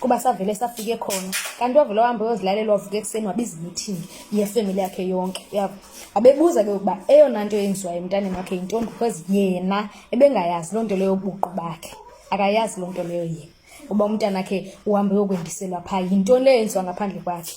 kuba savele safike khona kanti wavele wahamba uyozilalela wavuka ekuseni wabiza imeeting yefemeli yakhe yonke yabo abebuza ke ukuba eyona nto yenziwayo emntaneni wakhe yintoni because yena ebengayazi loo nto leyo buqu bakhe akayazi loo nto leyo yena uba umntana wakhe uhamba uyokwendiselwa phaa yintoni leyo yenziwa ngaphandle kwakhe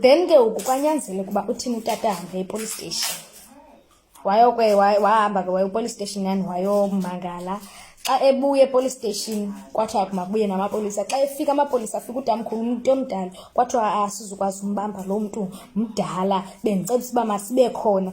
then ke ngoku kwanyanzele ukuba uthini utata ahambe epolice station wayokwe wahamba ke waye epolice station yani wayomangala xa ebuya epolice station kwathiwa makubuye namapolisa xa efika amapolisa afika utamkhulu umntu omdala kwathiwa asizukwazi ah, umbamba loo mntu mdala bendicebisa uba masibe khona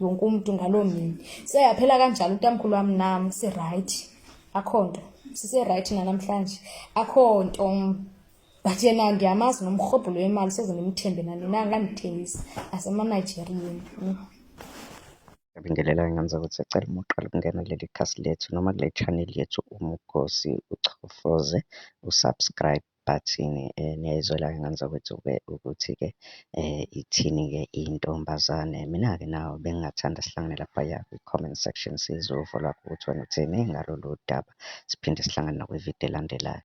wonke umuntu ngaloo mini seyaphela kanjalo utamkhulu wami nam sirayithi akho nto siserayithi nanamhlanje akho nto but yena ndiyamazi nomrhobhulo wemali soze ndimthembe nanina ngandithengisa asemanigerieni Ngiyabingelela ngenza ukuthi sicela uma uqala ukungena kuleli khasi lethu noma kule channel yethu uMkhosi uchofoze usubscribe Bathini niyayizwela ke ngane zakwethu-ke ukuthi-ke ithini-ke intombazane. Mina-ke nawe bengingathanda sihlangane laphaya kwi-comment section sizwe uvo lwakho ukuthi wena uthini ngalolu daba. Siphinde sihlangane nakwividiyo elandelayo.